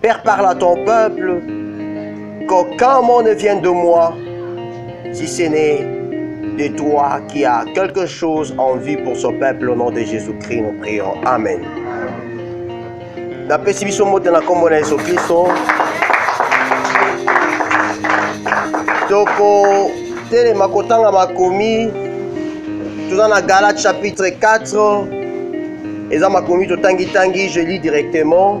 Père, parle à ton peuple qu'aucun mot ne vienne de moi, si ce n'est de toi qui as quelque chose en vie pour ce peuple au nom de Jésus-Christ, nous prions. Amen. napesi biso mbote na nkombo na yesu kristo tokotelema kotanga makomi toza na galate chapitre 4 eza makomi totangitangi je lis directement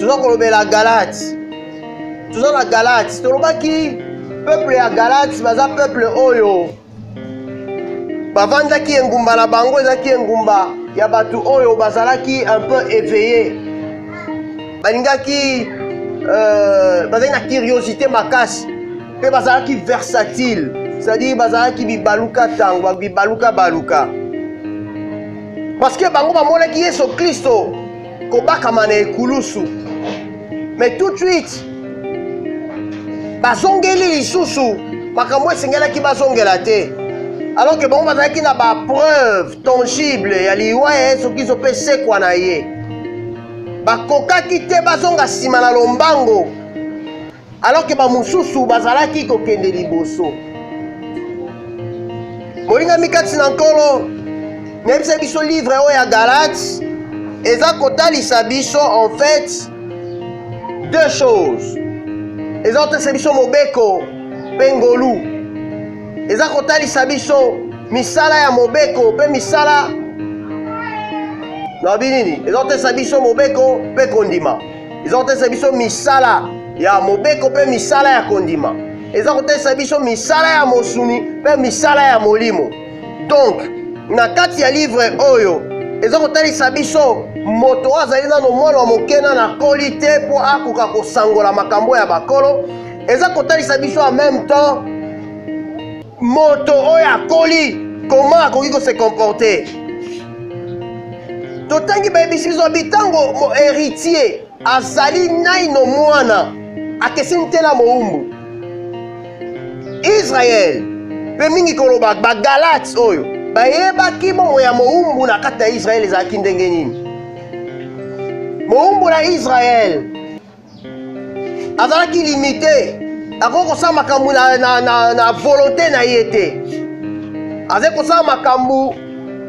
toza kolobela galati toza na galati tolobaki peuple ya galati baza peuple oyo bavandaki engumba na bango ezalaki engumba ya bato oyo bazalaki un peu éveillé balingaki euh, bazalaki na curiosité makasi mpe bazalaki versatile c'est-à-dire bazalaki bibaluka ntango bibaluka baluka parce que bango bamonaki yesu kristo kobakama na ekulusu mais tout de suite bazongeli lisusu makambo esengelaki bazongela te alors que bango bazalaki na bapreuve tangible ya liwa ya yesu kristo mpe sekwa na ye bakokaki te bazonga nsima na lombango alors ke bamosusu bazalaki kokende liboso molingami kati na nkolo nayebisa biso livre oyo ya galate eza kotalisa biso en fait deux choses eza kotalisa biso mobeko mpe ngolu eza kotalisa biso misala ya mobeko mpe misala na binini eza kotalisa biso mobeko mpe kondima eza kotalisa biso misala ya mobeko mpe misala ya kondima eza kotalisa biso misala ya mosuni mpe misala ya molimo donk na kati ya livre oyo eza kotalisa biso moto oyo azali nano mwana wa moke na nakoli te mpo akoka kosangola makambo ya bakolo eza kotalisa biso en même temps moto oyo akoli koma akoki ko se comporter totangi bayebisi biso abi ntango mo héritier azali naino mwana akeseni te na mowumbu israele mpe mingi koloba bagalate oyo bayebaki bongo ya mowumbu na kati ya israele ezalaki ndenge nini mowumbu na israele azalaki limite akoki kosala makambo na, na, na, na volonté na ye te azali kosala makambo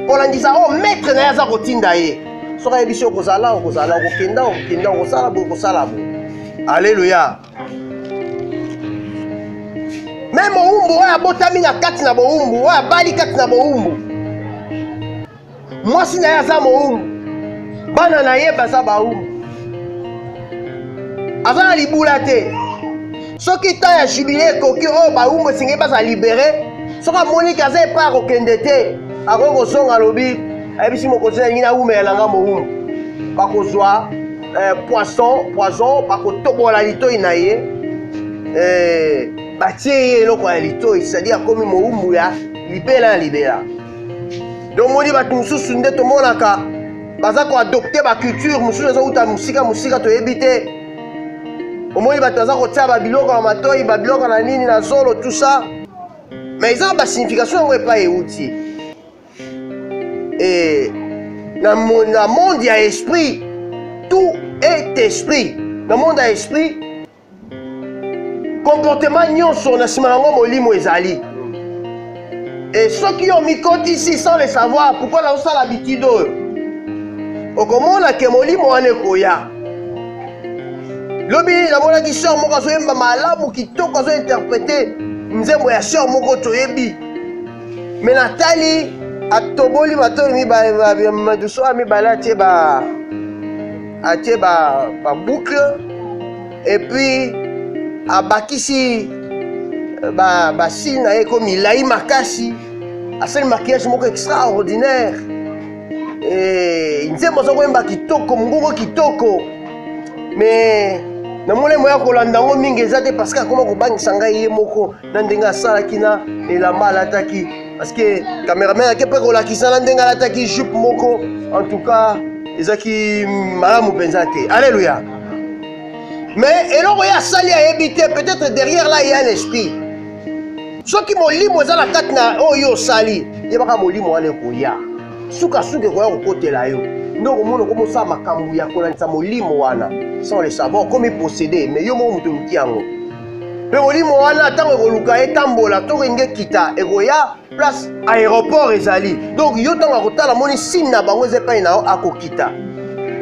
kolandisa oyo oh, maître na ye aza kotinda ye soki ayebisi yo kozala okozala okokenda okokenda okosala boye okosala boye aleluya me mowumbu oyo abotami na kati na bowumbu oyo abali kati na bowumbu mwasi na ye aza mowumu bana na ye baza bawumu aza na libula te soki temps ya jubile ekoki oyo oh, bawumu esengeli baza libere soki amoniki aza epai akokende te akoki kozonga alobi ayebisi mokonzi na lingi nawumela na nga mowumu bakozwa eh, poisson poison bakotobola litoi na ye eh, batie ye eloko ya litoi cetadire akomi mowumbu ya libela na libela tomoni bato mosusu nde tomonaka baza koadopte baculture mosusu ezouta mosika mosika toyebi te omoni bato baza kotia babiloko na matoi babiloko na nini na zolo tout ça mais eza na basignification yango epai euti e, na, na monde ya esprit tout est esprit na monde ya esprit Comportement nyonso na sima nango molimo ezali. Et soki yo mikotisi sans le savoir, pourquoi na osala habitude oyo? Okomona ke molimo wana ekoya. Lobi namonaki sœur moko azoyemba malamu kitoko azo interprete nzembo ya sœur moko toyebi. Mais natali atoboli matoi mibale, madusu mibale atie ba atie ba, ba boucle et puis abakisi euh, ba, ba signe na ye ko milai makasi asali maquillage moko extraordinaire eh, nzembo aza koyemba kitoko mongongo kitoko mais namoni moya kolanda yango mingi eza te parce que akoma kobangisa ngai ye moko na ndenge asalaki na elamba alataki parceke cameraman ake mpe kolakisa na ndenge alataki jupe moko en tout cas ezalaki malamu mpenza te alleluya mais eloko ye asali ayebi te peut-être derrière là ya l'esprit soki molimo eza na kati na oyo oh, osali yebaka molimo wana ekoya sukasuka ekoya kokotela yo nde okomona okomosala makambo ya kolandisa molimo wana sans le savoir okomi posede mais yo moko moto oluki yango mpe molimo wana ntango ekoluka etambola to kenge kita ekoya place aéroport ezali donc yo ntango akotala moni signe na bango eza epai na yo akokita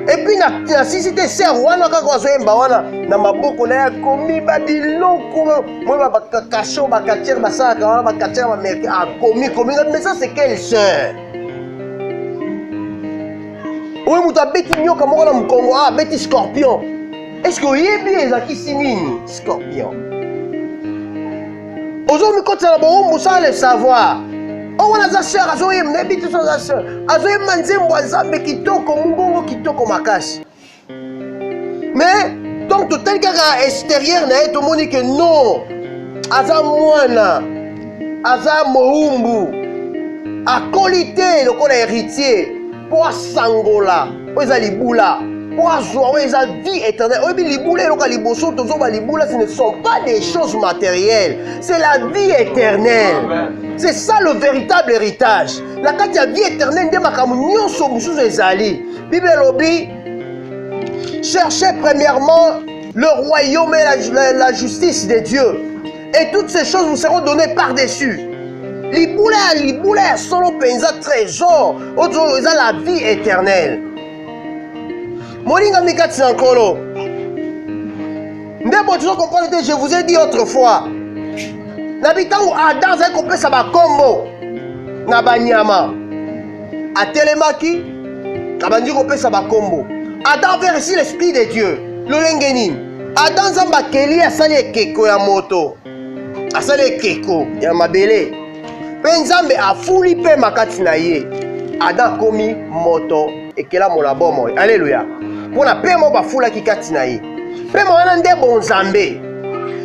epuis nasisi te ser wana kaka azoyemba wana na maboko na ye akomi babiloko moi bakakasho bakatiere basalaka wana bakatiere bamerke akomi komi mais ça c'est quelle sœur oyo moto abeti nyoka moko na mokongo abeti scorpion eske oyebi ezakisi nini scorpion ozomikotisa na bowumbu sans le savoir oyo oh, wana aza sœur azoyemba nayebi te so aza sœur azoyemba nzembo ya nzambe kitoko mongongo kitoko makasi mais donc totali kaka extérieur na ye tomoni ke non aza mwana aza mowumbu akoli te lokola héritier mpo asangola oyo eza libula mpo azwa oyo eza vie éternelle oyebi libula eloka liboso tozoba libula ce ne sont pas des choses matérielles c'est la vie éternelle c'est ça le véritable héritage na kati ya vie éternelle nde makambo nyonso mosusu ezali bible elobi cherchez premièrement le royaume et la, la, la justice de dieu Et toutes ces choses vous seront données par-dessus. libula ya libula ya solo mpenza trésor oyo eza la vie éternelle molingami kati na nkolo nde boye tozo comprendre te je vous ai dit autrefois na bitango adam azali kopesa bakombo na banyama atelemaki abandi kopesa bakombo adam avait reçu l'esprit de dieu lolenge nini Adam Nzambe akeli asali ekeko ya moto, asali ekeko ya mabele, mpe Nzambe afuli mpema kati na ye. Adam akomi moto ekelamo na bomoi. Aleluya! Mpo na mpema oyo bafulaki kati na ye, mpema wana nde bonzambe,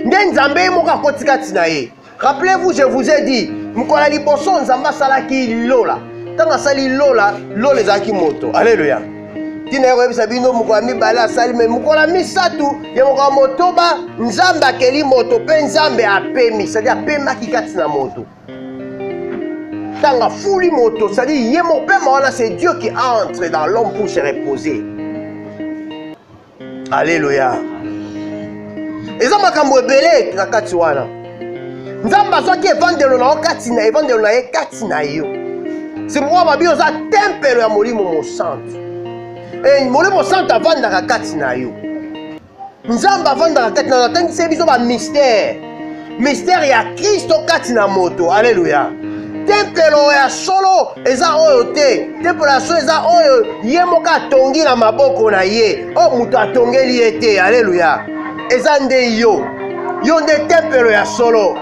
nde Nzambe ye moko akoti kati na ye. Rappelez-vous, je vous ai dit, mokolo ya liboso Nzambe asalaki lola. Ntango asali lola, lola ezalaki moto. Aleluya. ntina ya koyebisa bino mokolo ya mibale asali me mokolo ya misato ya mokolo ya motoba nzambe akeli moto mpe nzambe apemi sadi apemaki kati na moto ntango afuli moto sadi ye mopema wana c'est dieu qui entre dans l'homme pour se reposer aleluya eza makambo ebele na kati wana nzambe azwaki evandelo na yo kati na evandelo na ye kati na yo sikoyo babi oza tempelo ya molimo mosantu e, molimo mosantu avandaka kati na yo nzambe avandaka kati na yo atangisi ye biso bamistere mistere ya kristo kati na moto aleluya tempelo ya solo eza oyo te tempelo ya solo eza oyo ye moko atongi na maboko na ye oyo moto atongeli ye te aleluya eza nde yo yo nde tempelo ya solo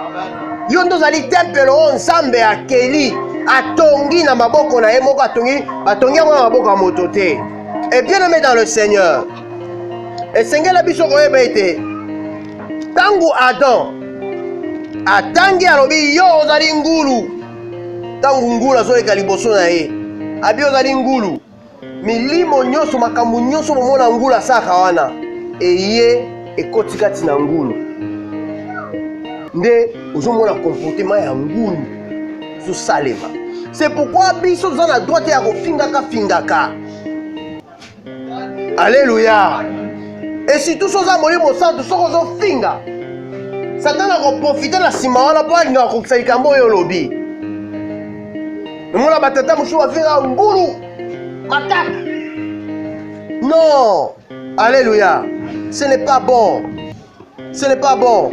yo nde ozali tempelo oyo nzambe akeli atongi na maboko na ye moko atongi batongi yango na maboko ya moto te e bien aime dans le seigneur esengela biso koyeba ete Tango Adam atangi alobi yo ozali ngulu ntango ngulu azoleka liboso na ye abi ozali ngulu milimo nyonso makambo nyonso bomona ngulu asalaka wana eye ekoti kati na ngulu nde ozomona komportema ya ngulu ezosalema se pourkui biso toza na droite ya kofingaka fingaka Alléluia. Et si tout ça molimo santu soko ozofinga satana akoprofite na nsima wana mpo alinga kokokisa likambo oyo olobi omona batata mosusu bafinga ngulu mataka non alléluia ce n'est pas bon ce n'est pas bon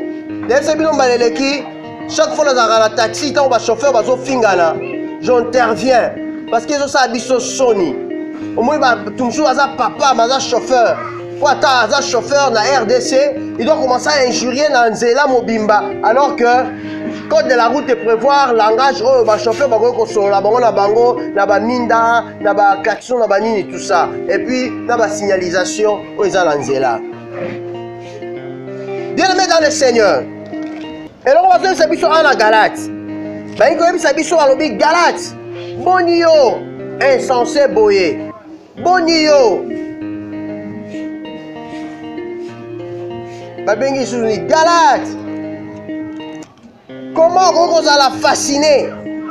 nayebisa bino mbala eleki chaque fois nazalaka na taxi ntango bachauffeur bazofingana j'interviens parce que ezosala biso soni omoni bato mosusu aza papa ma aza chauffeur mpo ata aza chauffeur na rdc il doit commencer à injurier na nzela mobimba alors que code de la route prévoir langage oyo bachauffeur bakoki kosolola bango na bango na baminda na baklaxon na banini tout ça et puis na basignalisation oyo eza na nzela bien aimé dans le seigneur eloko bazoyebisa biso awa na galate balingi koyebisa biso balobi galate boni yo insense boye boni yo babengi lisusu ni galate Comment okoki kozala fascine?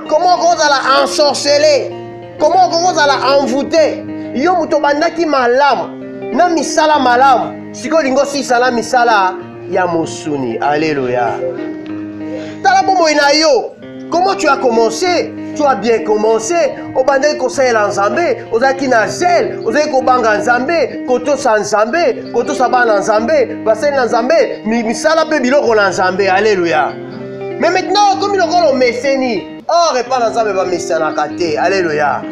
Comment okoki kozala ensorcele? Comment okoki kozala envoute? Yo moto obandaki malamu na misala malamu, sikoyo olingi osisa na misala ya mosuni. Aleluya! Tala bomoi na yo, comment tu as commencé tu as bien commencé obandaki kosalela nzambe ozalaki na zele ozalaki kobanga nzambe kotosa nzambe kotosa bana na nzambe basali na nzambe misala mpe biloko na nzambe aleluya me maintenant okomi lokola omeseni or epai na nzambe bamesanaka te aleluya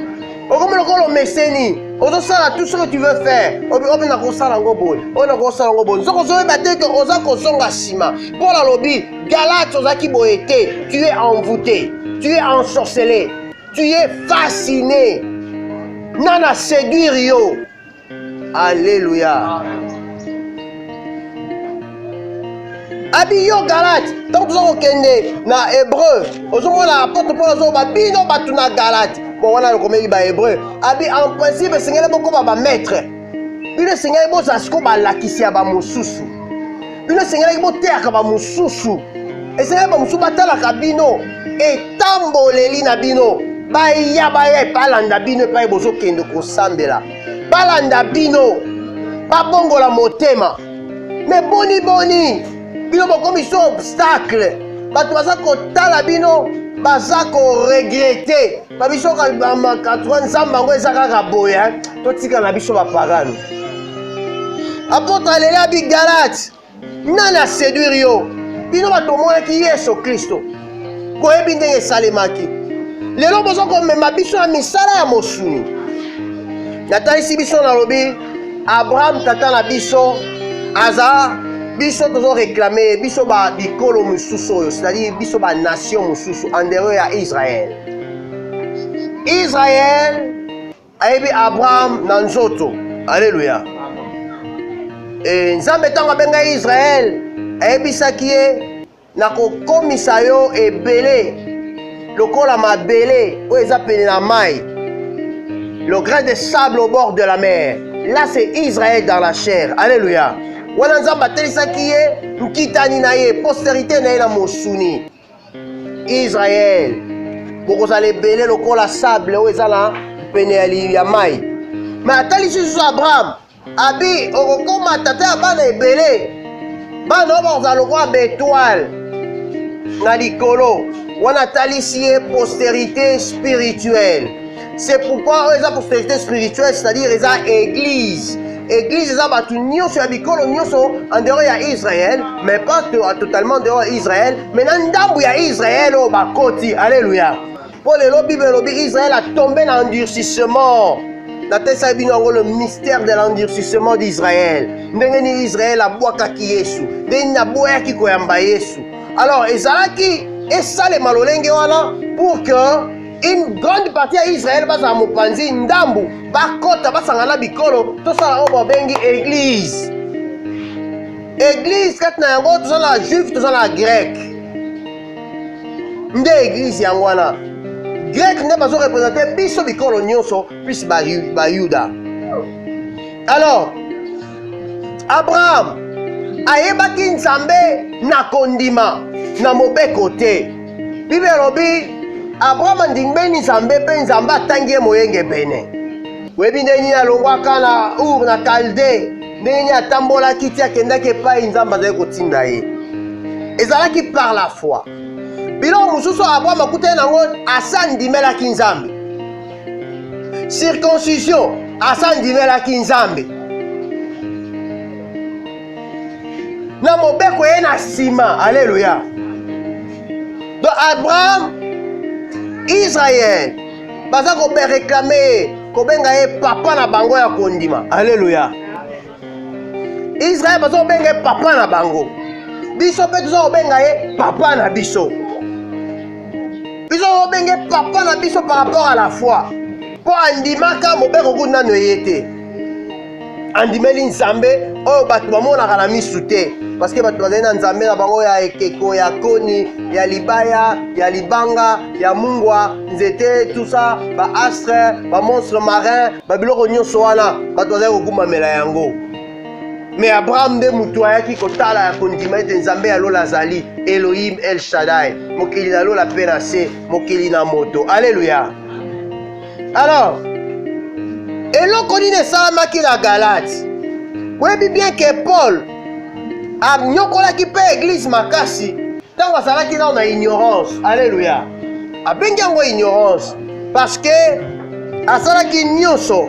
okomi lokola omeseni ozosala tout ce que tu veux faire obi nakosala yango boye oyo nakosala yango boye nzoka ozoyeba te ke oza kozonga nsima paul alobi galate ozalaki boye te tu es envoûté tu es ensorcelé tu es fasciné nana séduire yo Alléluia. abi yo galate ntango toza kokende na hébreu ozomona apotre paul azoba bino bato na galate bon wana lokomeli bahébreu abi en principe esengeli bokoma bamaître bino esengeli bozala sikoyo balakisi ya bamosusu bino esengelaki boteyaka bamosusu esengelaki bamosusu batalaka bino etamboleli na bino baya baya balanda bino epai bozokende kosambela balanda bino babongola motema me boni boni bino bokomi so obstacle bato baza kotala bino baza koregrete ba biso ka ba ma katwa nzamba ngo eza kaka boye hein to tika na biso ba pagano apotre alela bi galate nani a séduire yo bino bato omonaki yesu kristo koyebi ndenge esalemaki lelo boza komema biso na misala ya mosuni natalisi biso nalobi abraham tata na biso aza biso tozo reklame biso ba bikolo mosusu oyo c'est-à-dire biso ba nation mosusu andereur ya israel Israël ayebi Abraham na nzoto. Alléluia. Et Nzambe ntango abenga Israël ayebisaki ye nakokomisa yo ebele lokola mabele oyo eza pene na mai le grain de sable au bord de la mer là c'est Israël dans la chair alléluia wana nzambe atelisaki ye nkitani na ye posterité na ye na mosuni Israël, bokozala ebele lokola sable oyo eza na pene ya mai. Ma atalisi lisusu Abraham, abi okokoma tata ya bana ebele, bana oyo bakozala lokola betoile na likolo. Wana atalisi ye posterite spirituelle c'est pourquoi oyo eza prospérité spirituelle c'est-à-dire eza église église eza bato nyonso ya bikolo nyonso en dehors ya israël mais pas totalement dehors ya israël mais na ndambo ya israël oyo bakoti alleluya mpo lelo bible elobi israël atombe na endurcissement natesaki bino yango le mystère de l'endurcissement d'israël ndenge nini israël abwakaki yesu ndenge nini aboyaki koyamba yesu alors ezalaki esalema lolenge wana pour que une grande partie ya israele bazala mopanzi ndambu bakota basangana bikolo tosala oyo babengi eglise eglise kati na yango toza na juif toza na grec nde eglise yango wana grec nde bazo represente biso bikolo nyonso plus bayuda alors abraham ayebaki nzambe na kondima na mobeko te biblia elobi abrahama ndingbeni nzambe mpe nzambe atangi ye moyengebene oyebi ndenge nini alongwaka na ur na kalde ndenge nini atambolaki ti akendaki epai nzambe azali kotinda ye ezalaki par la foi biloko mosusu abrahama akutani nango asa andimelaki nzambe circoncision asa andimelaki nzambe na mobeko ye na nsima aleluya do abraham israel baza kobereklame ye kobenga ye papa na bango ya kondima aleluya israel baza kobenga ye papa na bango biso mpe toza kobenga ye papa na biso biso kobenge papa na biso par rapport à la foi mpo andimaka mobeko kutu nano eye te andimeli nzambe oyo bato bamonaka na misu te parceke bato bazali na nzambe na bango ya ekeko ya koni ya libaya ya libanga ya mungwa nzete tusa baastre bamonstre marin babiloko nyonso wana bato bazali kokumbamela yango me abraham nde moto ayaki kotala ya kondima ete nzambe ya lola azali elohim el shadai mokeli na lola mpe na se mokeli na moto aleluya Alors, eloko nini esalamaki na Galate? Boyebi bien que Paul anyokolaki mpe eglise makasi ntango azalaki nao na ignorance. Alleluia. Abengi yango ignorance parce que asalaki nyonso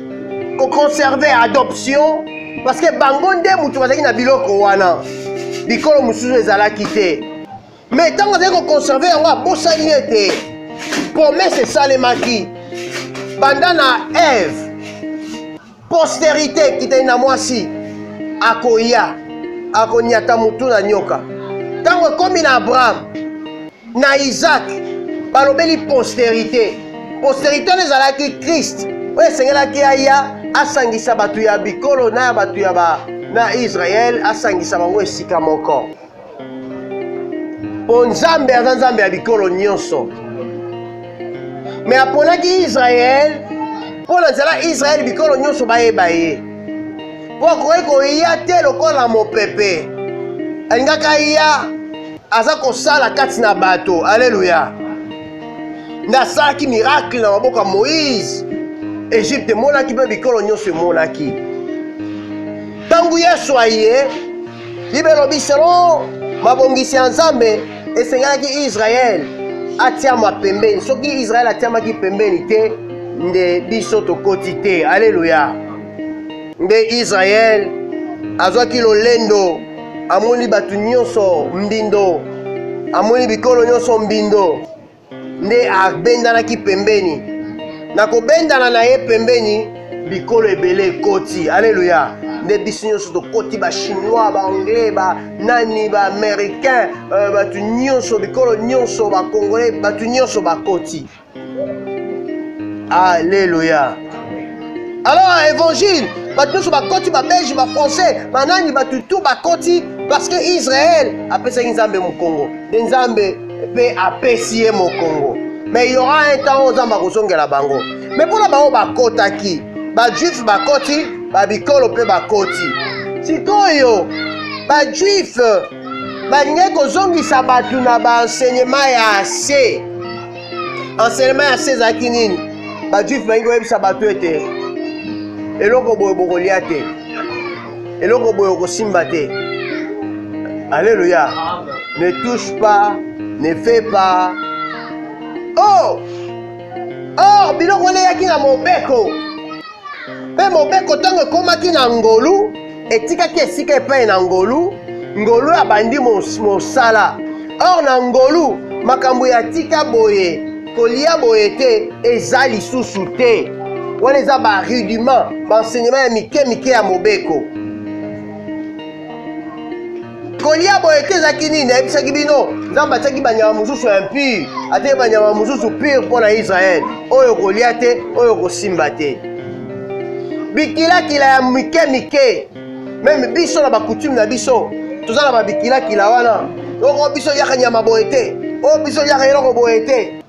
ko conserver adoption parce que bango nde moto bazalaki na biloko wana bikolo mosusu ezalaki te mais ntango azali koconserve yango abosani ete promese esalemaki banda na eve posterite ekitani na mwasi akoya akonyata motu na nyoka ntango ekomi na abraham Na Isaac, balobeli posterite. Posterite wana ezalaki Christ oyo esengelaki aya asangisa bato ya bikolo na ya bato ya ba na Israël asangisa bango esika moko. Mpo Nzambe aza Nzambe ya bikolo nyonso. Me aponaki Israël mpo na nzela Israël bikolo nyonso bayeba ye. Mpo akoki koya te lokola mopepe. Alingaka ya aza kosala kati na bato aleluya nde asalaki miracle na maboko ya moïse egypte emonaki mpe bikolo nyonso emonaki ntango yesu aye biblia elobi selon mabongisi ya nzambe esengelaki israele atiama pembeni soki israele atiamaki pembeni te nde biso tokoti te aleluya nde israele azwaki lolendo amoni bato nyonso mbindo amoni bikolo nyonso mbindo nde abendanaki pembeni na kobendana na ye pembeni bikolo ebele ekoti aleluya nde biso nyonso tokoti bachinois baanglais banani baaméricain euh, bato nyonso bikolo nyonso bacongolais bato nyonso bakoti Alléluia. Alors à évangile, bato nyonso bakoti babelge bafrançais banani bato tu bakoti parce que israel apesaki nzambe mokongo nde nzambe mpe apesi ye mokongo mais y aura un temps oyo nzambe akozongela bango mais mpona bango bakotaki bajuife bakoti babikolo mpe bakoti sikoyo bajuife balingai kozongisa bato na baenseignement ya se enseignement ya se ezalaki nini bajuife balingi koyebisa bato ete eloko boye bokolya te eloko boye okosimba te alleluya ne touche pas ne fait pas oh or oh, biloko oleyaki na mobeko Mpe mobeko ntango ekomaki na ngolu, etikaki esika epai na ngolu, ngolu abandi mosala. Or na ngolu makambo ya tika boye, kolia boye te eza lisusu te. Wana eza ba rudiment, ba enseignement ya mike mike ya mobeko. kolia boye te ezalaki nini nayebisaki bino nzambe atiaki banyama mosusu ya impire ateki banyama mosusu pire mpo na israele oyo kolia te oyo kosimba te bikilakila ya mike mike meme biso na bakutume na biso toza na babikilakila wana oko biso yaka nyama boye te oyo biso yaka eloko boye te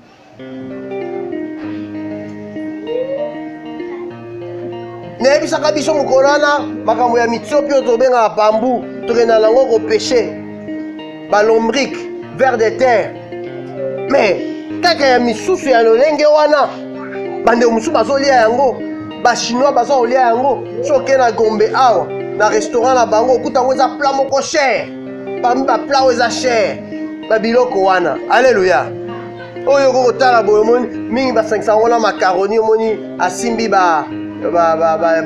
nayebisaka biso mokolo wana makambo ya mitiopi oyo tobengaka pambu tokenda nango kopeshe balombrike vert de terre mais kaka ya misusu ya lolenge wana bandeko mosusu bazolia yango bachinois baza kolia yango soki okei na gombe awa na restaurant na bango okuta yango eza plat moko cher parmi ba plat oyo eza cher ba biloko wana alleluya oyo okoki kotala boye omoni mingi basangisa yango na macaroni omoni asimbi ba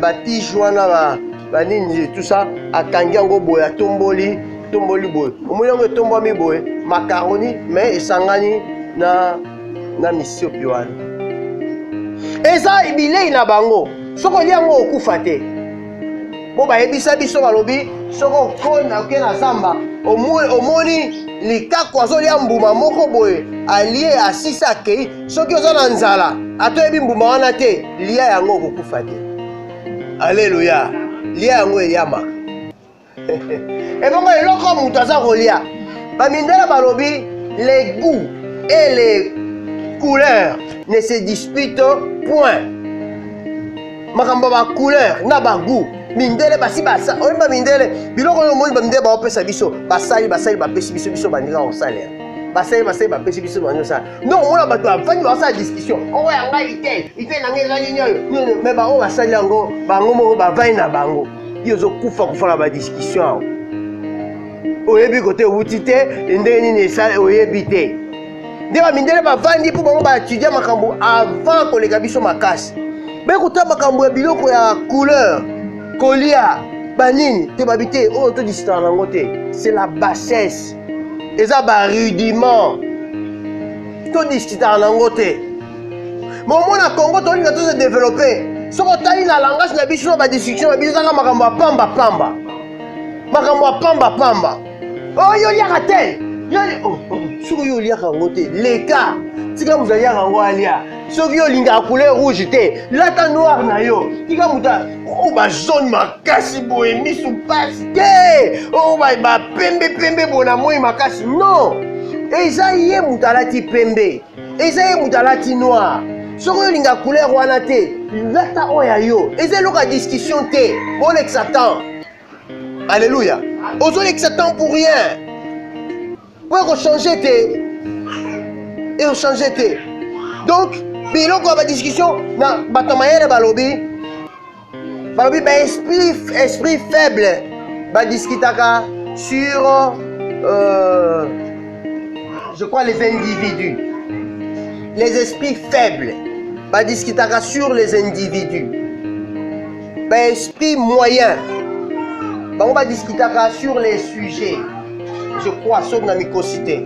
batige wana banini tout ça akangi yango boye atomboli tomboli boye omoni yango etombwami boye macaroni mais esangani na na misiopi wana eza bilei na bango soki olia yango okufa te mpo bayebisa biso balobi soki okoni oke na zamba omoni likaku azolya mbuma moko boye alie asisi akei soki oza na nzala ata oyebi mbuma wana te lia yango okokufa te aleluya lia yango eyamaka ebongo eloko moto aza kolia bamindela balobi le goût et le couleur ne se dispute point makambo ba couleur na ba goût mindele basi basa oyeba mindele biloko oyo omoni bamindele baopesa biso basali basali bapesi biso biso bandika kosalela basali basali bapesi biso bandi osala donc omona bato bafandi baosala discussion oyo ya ngai ite ite na ngai ezali nini oyo me baoyo basali yango bango moko bavai na bango yo ozokufa kufa na badiskussion awa oyebi kote owuti te ndenge nini esala oyebi te nde bamindele bavandi mpo bango baetudia makambo avant koleka biso makasi bekuta makambo ya biloko ya couleur kolia banini te babi te oyo todisitana nango te c'est la bassesse eza barudiment todisitana nango te bomona congo tolinga to se développer soki otali na langage na biso na badiscussion na biso ezaka makambo ya pamba pamba makambo ya pamba pamba oyo oliaka te soki yo oliaka yango te leka tika moto aliaka yango alia soki yo olingaka couleur rouge te lata noir na yo tika moto o bazone makasi boye misu mpasi te o bapembe pembe boye na moi makasi non eza ye moto alati pembe eza ye moto alati noir soki olinga couleur wana te lata oyo ya yo eza eloko ya discussion te bolekisa temps alleluya ozolekisa temps pour rien po ekochange te ekochange te donc biloko ya badiscussion na bato ya mayele balobi balobi ba esprit, esprit faible badiscutaka sur euh, je crois les individus les esprits faibles badiscutaka sur les individus ba esprit moyen bango badiscutaka sur les sujets je crois soki na mikosi te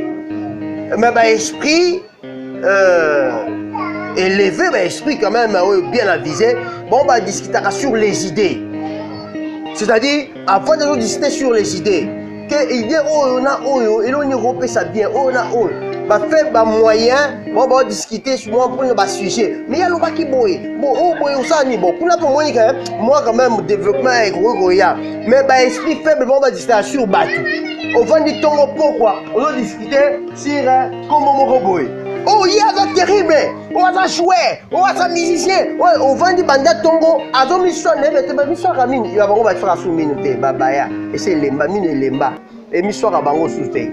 me ba esprit euh, eleve baesprit quand même oyo bien avise bango badiscutaka sur les idées c'est-à-dire avant de discuter sur les idées que idée oyo na oyo eloni ekopesa bien oyo na oyo bafe bamoyen bango baodiscute mwa mpona basujet mais ye alobaki boye bo oyo oh, boye osala nini bo kuna mpe omoni ka mwa quand même développement ekoki koya mais baesprit faible bango badiscutaka sur bato ovandi ntongo pokwa ozodiscute sur kombo moko boye oyo oh, ye aza terrible oyo oh, aza joueur oyo oh, aza musicien oyo ovandi banda ntongo azomiswa na yebe te bamiswaka mingi ya bango baswaka su mino te babaya ese elemba mino elemba emiswaka bango su te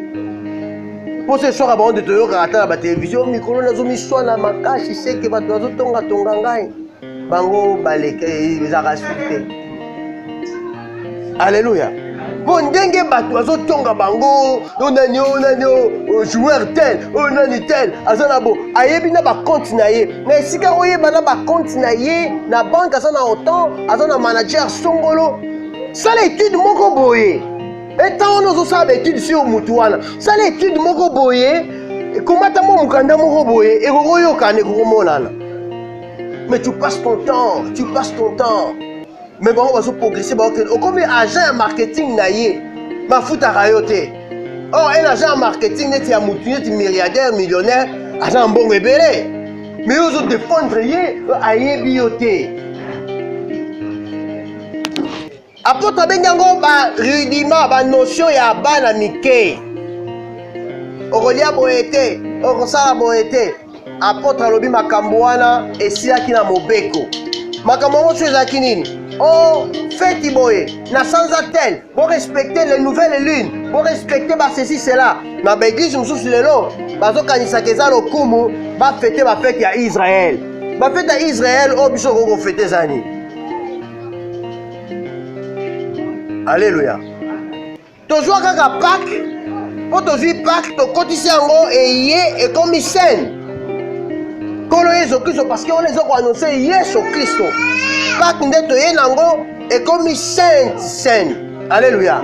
mposo eswaka bango nde toyokaka ata na batelevizio mikolo nazomiswa na makasi seke bato bazotongatonga ngai bango baleke ezalaka suki te alleluya mpo ndenge bato bazotonga bango o nani o nani o joueur tel o nani tel aza na bo ayebi na bakonte na ye na esika oyeba na bakonte na ye na banke aza na otan aza na manager songolo sala etude moko boye etan wana ozosala baetude sur motu wana sala etude moko boye ekomata mwa mokanda moko boye ekokoyokana ekokomonana mais tu passes ton temps tu passes ton temps mais bango bazo progresse baokende okomi agent ya marketing na ye bafutaka yo te or oh, un agent ya marketing neti ya motu neti milliardaire millionnaire aza na mbongo ebele mais yo ozo défendre ye ayebi yo te Apotre abengi yango ba rudiment ba notion ya bana mike. Okolia boye te, okosala boye te. Apotre alobi makambo wana esilaki na mobeko. Makambo yango so ezalaki nini? Oh, feti boye, na sanza tel, bo respecter les nouvelles lunes, bo respecter ba ceci cela. Na ba église mosusu lelo bazokanisaka eza lokumu bafete bafete ya Israël. Bafete ya Israël oyo biso okoki kofete eza nini? aleluya tozwa kaka pake mpo tozwi pake tokotisi yango eye ekomi sene nkolo yesu kristo parceke wana eza koannonse yesu kristo pake nde toye na yango ekomi sainte sene aleluya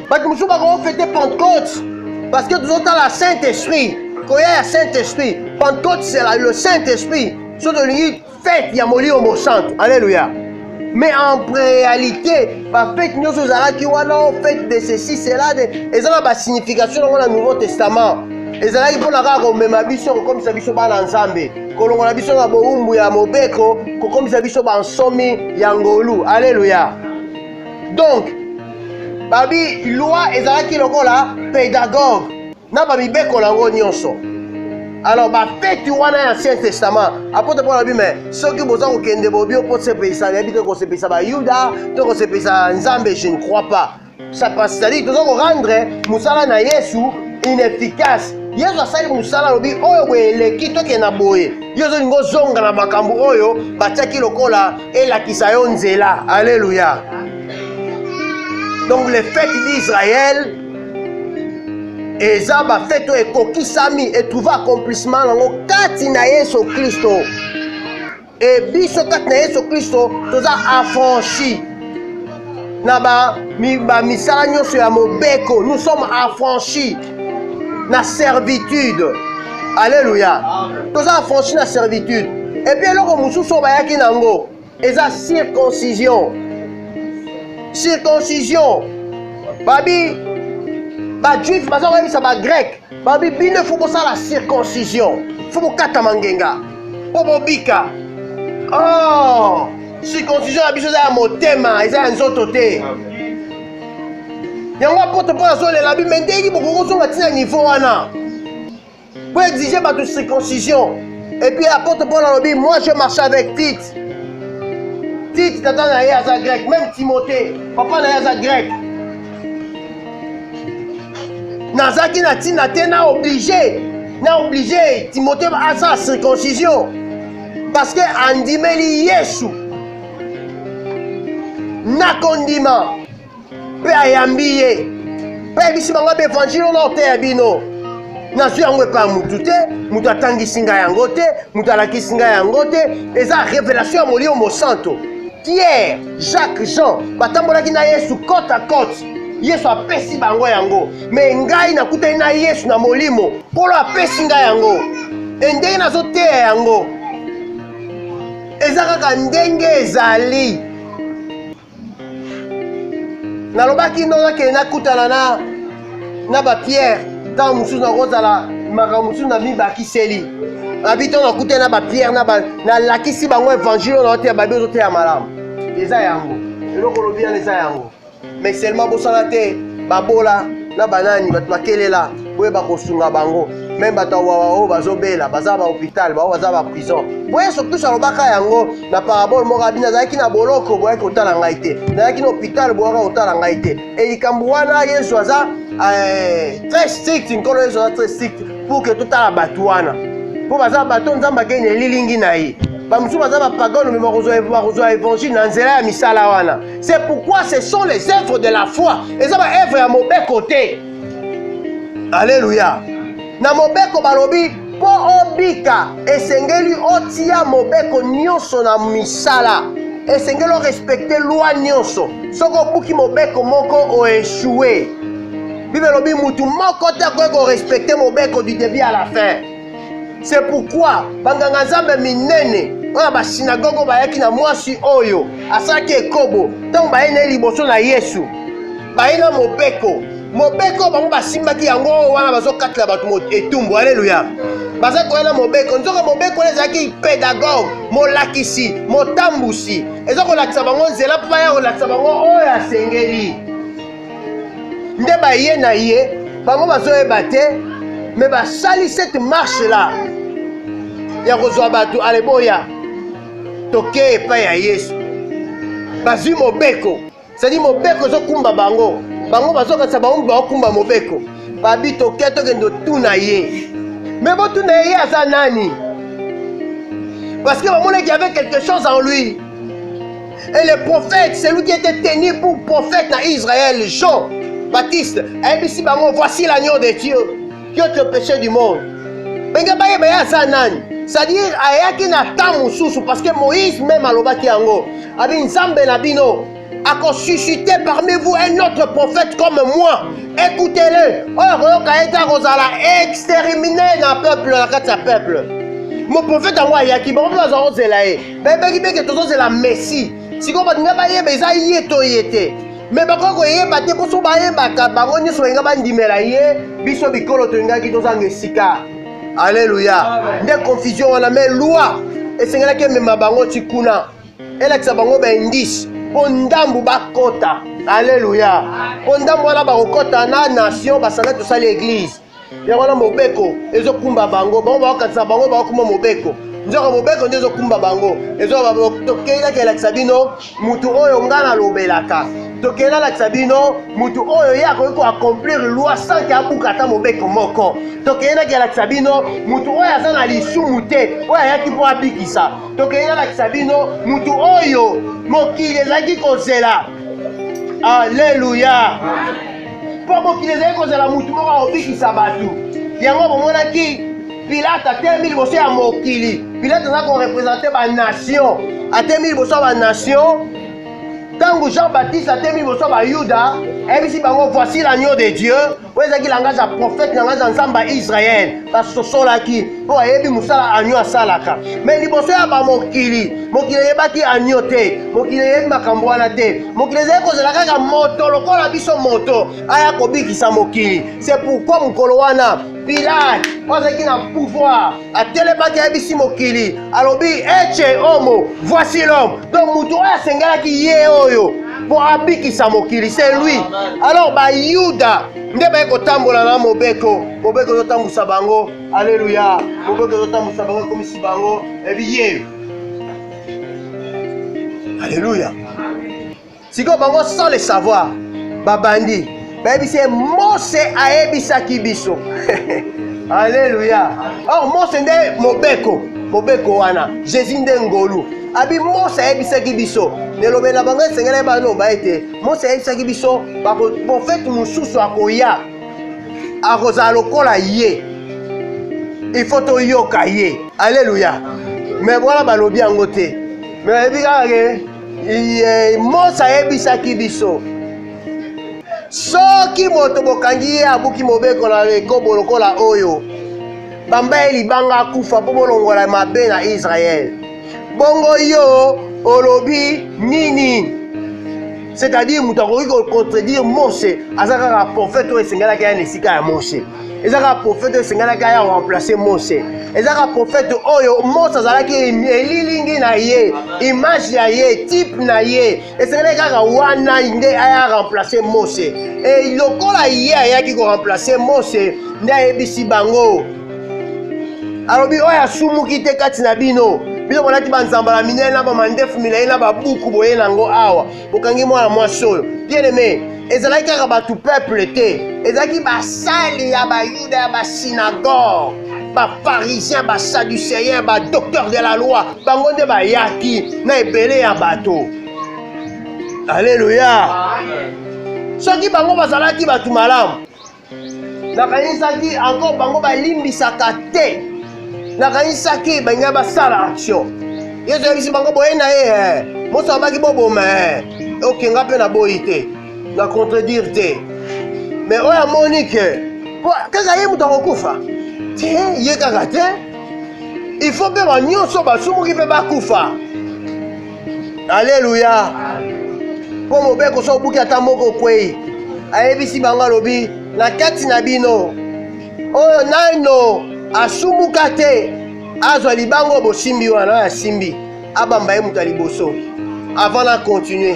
bato mosusu bakofete pentecote parceke tozotala saint esprit koya ya saint esprit pentecote sela le saint esprit so tolingi fete ya molimo mosantu aleluya mais en réalité bafete nyonso ezalaki wana o fete de ceci cela de eza na basignification yango na nouveau testament ezalaki mpo na kaka komema biso kokomisa biso bana nzambe kolongola biso na bowumbu ya mobeko kokomisa biso bansomi ya ngolu aleluya donc babi loi ezalaki lokola pedagogue na bamibeko na yango nyonso alors bafeti wana ya ancien testament apotre paul alobi me soki boza kokende bobi mpo sepelisa nayebi te kosepelisa bayuda to kosepelisa nzambe je ne crois pas ça passe cetadire toza korendre mosala na yesu inefficace yesu asali mosala alobi oyo boye eleki tokende na boye yo ozolinga ozonga na makambo oyo batiaki lokola elakisa yo nzela alleluya donc les fêtes d'israël eza bafete oyo ekokisami etrouve accomplissement yango kati na yesu kristo e biso kati na yesu kristo toza affranchi na bamisala ba nyonso ya mobeko nous sommes affranchi na servitude alleluya toza affranchi na servitude epuis eloko mosusu oyo bayaki na yango eza circoncision circoncision babi bajuif baza koyebisa bagreke babi bino efo bosala circoncision fo bokatama ngenga mpo bobika oh, circoncision na biso eza ya motema eza ya nzoto te yango apotre mpo azolela bi me ndenge bokoki kozonga ntina nivo wana Pour exiger ma circoncision. Et puis apôtre Paul alobi, moi je marche avec Tite. Tite tata na ye aza grec, même Timothée, papa na ye aza grec. nazalaki na ntina te na oblige na oblige timote asala circoncision parce que andimeli yesu na kondima mpe ayambi ye mpe ayebisi bango mpe evanjili oyo naoteya bino nazwi yango epai ya motu te moto atangisi ngai yango te moto alakisi ngai yango te eza revelation ya molimo mosanto pierre jacques jean batambolaki na yesu cote à cote yesu apesi bango yango me ngai nakutani na yesu na molimo nkolo apesi ngai yango e ndenge nazoteya yango eza kaka ndenge ezali nalobaki no nakende nakutana na na bapierre ntango mosusu nakozala makambo mosusu na mibakiseli abi ntango nakutani na bapierre nalakisi bango evangile oyo naoteya babi ozoteya malamu eza yango eloko olobi yana eza yango mais seulement bosala te babola na banani bato bakelela boyeba kosunga bango meme bato ya wawa oyo bazobela baza bahopital bango baza baprison po yesu kristo alobaka yango na parabole moko abi nazalaki na boloko boyaki kotala ngai te nazalaki na hopital boyaka kotala ngai te e likambo wana yesu aza eh, très strict nkolo yesu aza très strict pour ke totala bato wana mpo baza bato nzambe akei na elilingi na ye bamosusu baza bapagano me bakozwa évangile na nzela ya misala wana c'est pourquoi ce sont les œuvres de la foi eza baœuvre ya mobeko te Aleluya! Na mobeko balobi mpo obika esengeli otia mobeko nyonso na misala, esengeli orespekte lwa nyonso. Soki obuki mobeko moko oeshue. Bible elobi motu moko te akoki korespekte mobeko du debut à la fin. se pourkui banganga nzambe minene oyo basinagogo bayaki na mwasi oyo asalaki ekobo ntango baye na ye liboso na yesu baye na mobeko mobeko bango basimbaki yango wana bazokatela bato etumbu aleluya baza koya na mobeko nzoka mobeko wana ezalaki pedagoge molakisi motambusi eza kolakisa bango nzela mpo baya kolakisa bango oyo asengeli nde baye na ye bango bazoyeba te me basali cette marche là ya kozwa bato aleboya tokei epai ya yesu bazwi mobeko sadi mobeko ezokumba bango bango bazokatisa bango baokumba mobeko babi toke tokende otuna ye me botuna ye ye aza nani parce que bamonaki avait quelque chose en lui Et le prophète, celui qui était tenu pour prophète à Israël, Jean Baptiste, ayebisi bango, voici l'agneau de Dieu qui ôte le péché du monde. Benge bayeba ye aza nani? C'est-à-dire ayaki na temps mosusu parce que Moïse même alobaki yango. Abi Nzambe na bino akosuscite parmi vous un autre prophète comme moi. Écoutez-le. Oyo koyoka ye te akozala extermine na peuple na kati ya peuple. Mon prophète yango ayaki, bango mpe bazala kozela ye. bayebaki mpe ke tozozela messi sikoyo baninga bayeba eza ye to ye te me bakoki koyeba te mpo so bayebaka bango nyonso balinga bandimela ye biso bikolo tolingaki tozanga esika aleluya nde confusion wana me lwa esengelaki emema bango ti kuna elakisa bango baindice mpo ndambu bakota aleluya mpo ndambu wana bakokota na nation basala tosali eglize yango wana mobeko ezokumba bango bango baokanisa bango baokuma mobeko nzoka mobeko nde ezokumba bango tokei naki elakisa bino motu oyo ngai nalobelaka tokei nalakisa bino motu oyo ye akoki koaccomplir loi sanke abuka ata mobeko moko tokei naki elakisa bino motu oyo aza na lisumu te oyo ayaki mpo abikisa tokei nalakisa bino motu oyo mokili ezalaki kozela aleluya mpo mokili ezali kozala motu moko akobikisa bato yango bomonaki pilate atelemi liboso ya mokili pilate aza korepresente banation atelemi liboso ya banation ntango jean baptiste atelemi liboso ya bayuda ayebisi bango voici l'agneau de dieu oyo ezalaki langage ya prophète langage ya nzambe ya israele basosolaki mpo ayebi mosala anyo asalaka me liboso ya bamokili mokili eyebaki anyo te mokili eyebi makambo wana te mokili ezali kozela kaka moto lokola biso moto aya kobikisa mokili se pourkui mokolo wana pilate oyo azalaki na pouvoir atelemaki ayebisi mokili alobi ece omo voici l'homme donc moto oyo asengelaki ye oyo mpo abikisa mokili se lui alors bayuda nde baye kotambola na mobeko mobeko ezotambwisa bango Alleluia. Moboke ezotambwisa bango ekomisi bango ebiye. Alleluia. Sikoyo bango sans le savoir babandi bayebisi ye Mose ayebisaki biso. Alleluia. Or Mose nde mobeko mobeko wana Jésus nde ngolu abi Mose ayebisaki biso nelobela bango esengeli baye baloba ete Mose ayebisaki biso baprofete mosusu akoya akozala lokola ye il faut toyoka ye alleluya me wana balobi yango te me bayebi kaka ke mosa ayebisaki biso soki moto bokangi ye abuki mobeko na ekobo lokola oyo bamba ye libanga akufa mpo bolongola mabe na israele bongo yo olobi nini c'est-à-dire moto akoki kocontredire mose aza kaka profete oyo esengelaki aya na esika ya mose eza kaka profete oyo esengelaki aya remplace mose eza kaka profete oyo mose azalaki elilingi na ye image ya ye type na ye esengelaki kaka wana nde aya remplace mose e lokola ye ayaki koremplace mose nde ayebisi bango alobi oyo asumuki te kati na bino bino bolati banzambala minene na bamandefu milai na babuku boye nango awa bokangi mwana mwasi oyo bien aime ezalaki kaka bato peuple te ezalaki basali ya bayuda ya basinagoge baparisien basaduceyen badocteur de la loi bango nde bayaki na ebele ya bato aleluya soki bango bazalaki bato malamu nakanisaki encore bango balimbisaka te nakanisaki balinga basala action yesu ayebisi bango boye na ye eh. moso abaki boboma eh. oke nga mpe naboyi te na contredire te me oyo amoni ke kaka ye moto akokufa te ye kaka te il faut mpe banyonso basumuki mpe bakufa aleluya mpo mobeko so obuki ata moko okwei ayebisi bango alobi na kati na bino oyo naino asumuka te azwa libango oyo bosimbi wana oyo asimbi abamba ye moto ya liboso avant na continuer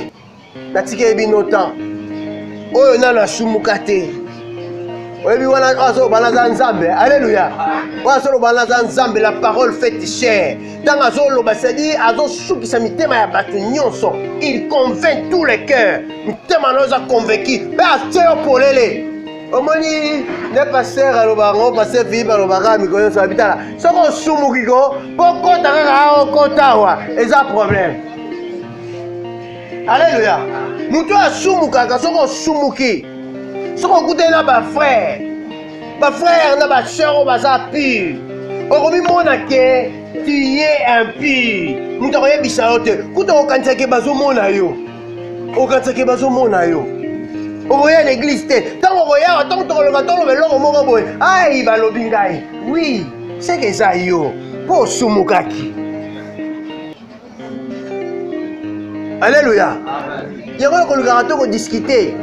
natikeli bino temps oyo nano asumuka te oyebi wana oyo azoloba naza nzambe aleluya oyo azoloba naza nzambe la parole fait chair ntango azoloba sedi azosukisa mitema ya bato nyonso il convainc tous les cœurs mitema na oza convaincu mpe atye yo polele omoni nde paster aloba yango paster philipe alobaka mikolo nyonso abitala soki osumuki ko mpo kota kaka okota awa eza problème aleluya moto oyo asumukaka soki osumuki soki okutani na bafrere bafrere na baseur oyo baza pure okomimona ke tiye impure moto akoyebisa yo te kuta okokanisa ke bazomona yo okokanisa ke bazomona yo okoya na eglise te ntango okoyawa ntango tokoloba toloba eloko moko boye ai balobi ngai wi seke eza yo mpo osumukaki aleluya yango na kolukaka to kodiskite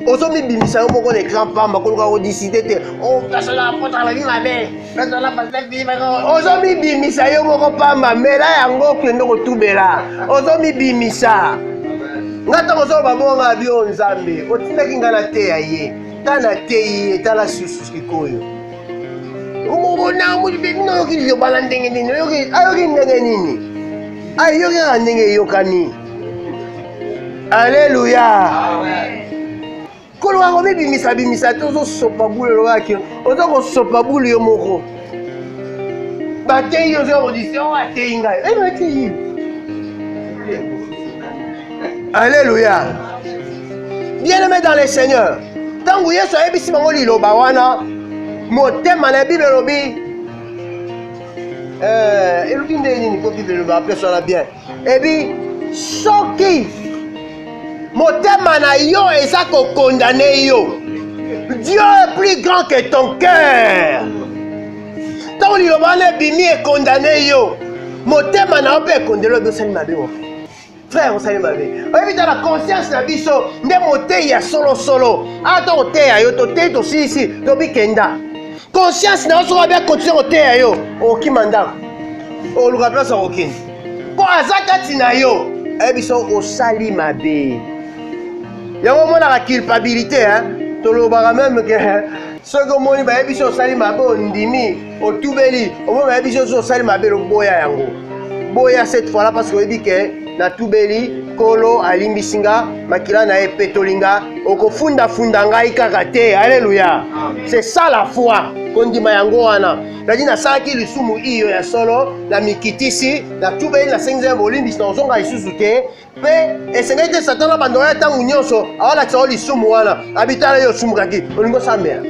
ozomibimisa yo moko na ekran pamba koluka kodiskite te oh, osalaapotalaki mabe ozomibimisa yo moko pamba mela yango kende kotubela ozomibimisa nga ntango ozoloba bonga bio nzambe otindaki nga na teya ye ta na teyi ye tala susu sikoyo okokona mutu mpe bino oyoki liloba na ndenge nini ayoki ndenge nini ayoki kaka ndenge eyokani aleluya koloka komibimisa bimisa te ozosopa bule olobaki oza kosopa bule yo moko bateyi ozoya kodise o ateyi ngai ebatei Alléluia. Bien-aimé dans le Seigneur, ntango Yesu ayebisi bango liloba wana, motema na Bible elobi eh, elobi ndenge nini ko Bible eloba apesa na bien ebi soki motema na yo eza kokondane yo Dieu est plus grand que ton cœur ntango liloba wana ebimi ekondane yo motema na yo mpe ekondeli obi osali mabe frère osali mabe oyebi ta na conscience na biso nde moteyi ya solosolo ata ah, oteya yo toteyi tosilisi tobi kenda conscience na yo soki abe akontinue koteya yo okima ndako oluka place ya kokende mpo aza kati na yo ayebi so osali mabe yango omonaka culpabilité hein? tolobaka meme ke soki omoni bayebi so osali mabe ondimi otubeli omoi bayebi biso ozo osali mabe loboya yango boya cette fois là parce que oyebi ke natubeli nkolo alimbisi nga makila na ye epetoli nga okofundafunda ngai kaka te aleluya c'est ça la foi kondima yango wana nadi nasalaki lisumu iyo ya solo na mikitisi natubeli nasengi nzambe bolimbisi na kozonga lisusu te mpe esengeli te satana abanda oya ntango nyonso awalakisa yo lisumu wana abitala yo osumukaki olingi osambela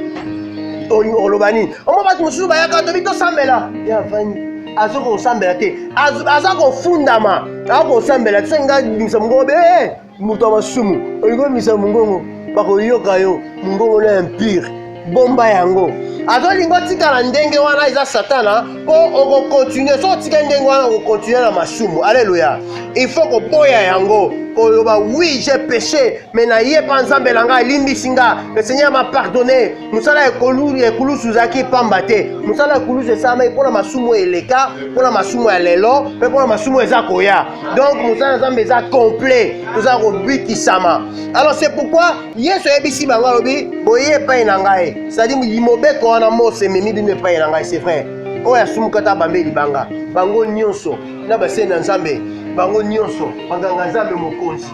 oloba nini omo bato mosusu bayaka tobi tosambela ya vandi aza kosambela te aza kofundama aza kosambela te soki ngai bimisa mongongo be eh, moto ya masumu olingi obimisa mongongo bakoyoka yo mongongo na impire bomba yango azolinga otikala ndenge wana eza satana mpo okokontinue so otikali ndenge wana okokontinue na masumu aleluya il faut koboya yango koloba oui j'ai péché mais naye mpa nzambe na ngai alimbisi nga le seigneur m'a pardonné mosala ya ekulusu ezalaki mpamba te mosala ya ekulusu esalamaki mpo na masumu oyo eleka mpo na masumu ya lelo mpe mpo na masumu eza koya donc mosala ya nzambe eza complet tozala kobikisama alors c'est pourquoi yesu ayebisi bango alobi boye epai na ngai sadi mobeko wana mose ememi bino epai na ngai c'est vrai oyo asumuka ta bambe libanga bango nyonso na baseni ya nzambe bango nyonso baganga nzambe mokonzi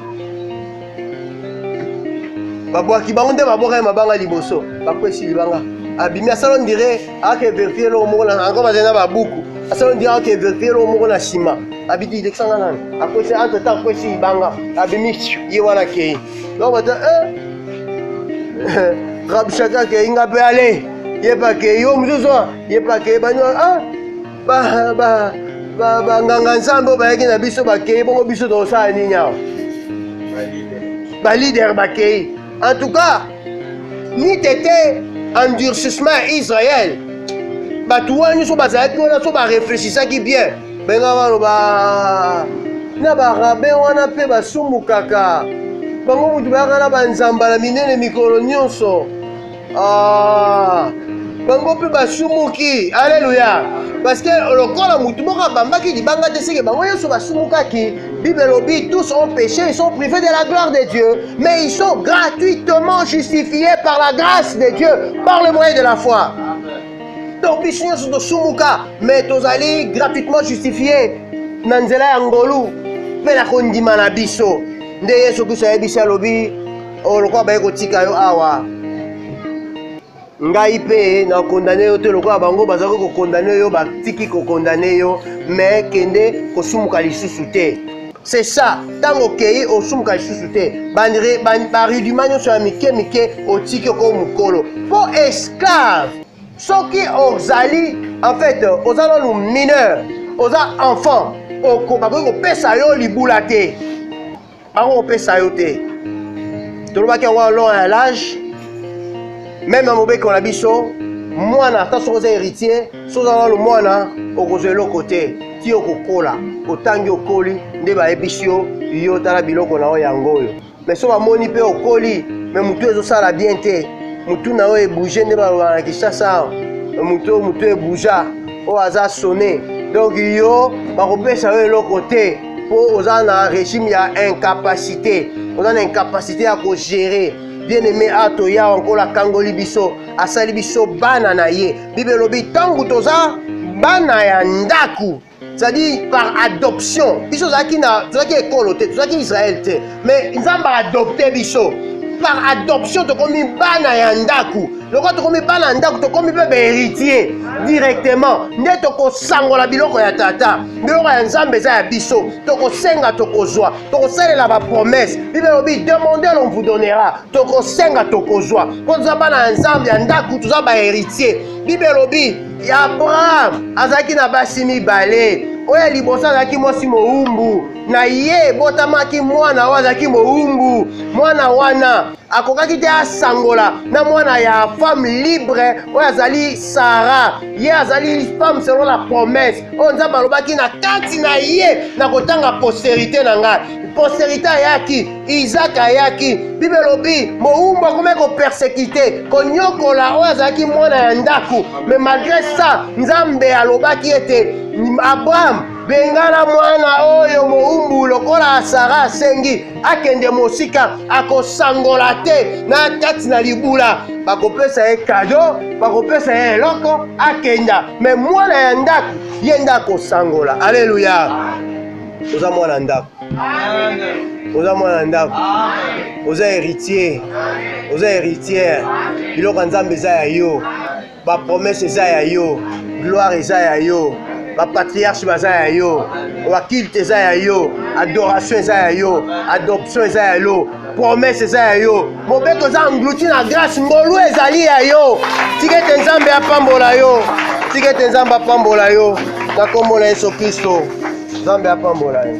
babwaki bango nde babwaka ye mabanga liboso bakwesi libanga abimi asala ondire ake verifie eloko moko ango bazali na babuku asala ondire ake verifie eloko moko na nsima abiki lekisanga nani akwesi entre temps akwesi libanga abimi ye wana kei donc bata eh. rabshaka ke inga pe ale ye pa ke yo mosusu ye pa ke bani ah ba ba ba ba nganga nzambe bayaki na biso bakei bongo biso tokosala nini awa balider bakei en tout cas ni tete endurcissement ya israel bato wana nyonso bazalaki wana so bareflechisaki bien benga baloba na barabe wana mpe basumbukaka bango moto bayaka na banzambala minene mikolo nyonso ah, bango mpe basumuki aleluya parceke lokola motu moko abambaki libanga te seke bango nyonso basumukaki bible elobi tous ont péché ils sont privés de la gloire de dieu mais ils sont gratuitement justifiés par la grâce de dieu par le moyen de la foi donc biso nyonso tosumuka mais tozali gratuitement justifie na nzela ya ngolu mpe na kondima na biso nde yesu kristo ayebisi alobi oh, lokola baye kotika yo awa ngai mpe nakondane yo te lokola bango bazalaki kokondane yo batiki kokondane yo me kende kosumuka lisusu te c'est ça ntango okei osumuka lisusu te baridima nyonso ya mike mike otiki oko mokolo mpo esclave soki ozali en fait oza nanu mineur oza enfant bakoki kopesa yo libula te bango kopesa yo te tolobaki yango wana long ya lage meme na mobeko na biso mwana ata soki oza héritier soki oza nano mwana okozwa eloko te ti okokola otangi okoli nde bayebisi yo yo tala biloko na yo yango oyo me so bamoni mpe okoli me motu ezosala bien te motu na yo ebouge nde baloba na kinshasa motu oyo motu ebouja oyo aza sone donk yo bakopesa yo eloko te mpo oza na régime ya incapacité oza na incapacité ya kogere bien aime ato yawa nkolo akangoli biso asali biso bana na ye Bible elobi ntango toza bana ya ndako c'est-à-dire par adoption biso tozalaki na tozalaki ekolo te tozalaki israel te mais nzambe aadopte biso par adoption tokomi bana ya ndako lokola tokomi bana ya ndako tokomi mpe baheritier directement nde tokosangola biloko ya tata biloko ya nzambe eza ya biso tokosenga tokozwa tokosalela bapromese bible elobi demande l'on vous donnera tokosenga tokozwa mpo toza bana ya nzambe ya ndako toza baheritier bible elobi abraham azalaki na basi mibale oyo ya liboso azalaki mwasi mowumbu na ye ebotamaki mwana oyo azalaki mowumbu mwana wana akokaki te asangola na mwana ya femme libre oyo azali sara ye azali femme selon la promesse oyo nzambe alobaki na kati na ye na kotanga posterité na ngai posterité ayaki Isaac ayaki, Bible elobi mowumbu akomaki kopersekite, konyokola oyo azalaki mwana ya ndako. Me malgre ça, Nzambe alobaki ete Abraham, bengana mwana oyo mowumbu lokola Sara asengi, akende mosika, akosangola te na kati na libula. Bakopesa ye kado, bakopesa ye eloko, akenda. Me mwana ya ndako ye nde akosangola. Aleluya, oza mwana ndako. oza mwana ya ndako oza héritier oza héritière biloko ya nzambe eza ya yo bapromese eza ya yo gloire eza ya yo bapatriarche baza ya yo bakilte eza ya yo adoration eza ya yo adoption eza ya yo promese eza ya yo mobeko eza englouti na grâce ngolu ezali ya yo tika ete nzambe apambola yo tika ete nzambe apambola yo na nkombo na yesu kristo nzambe apambola yo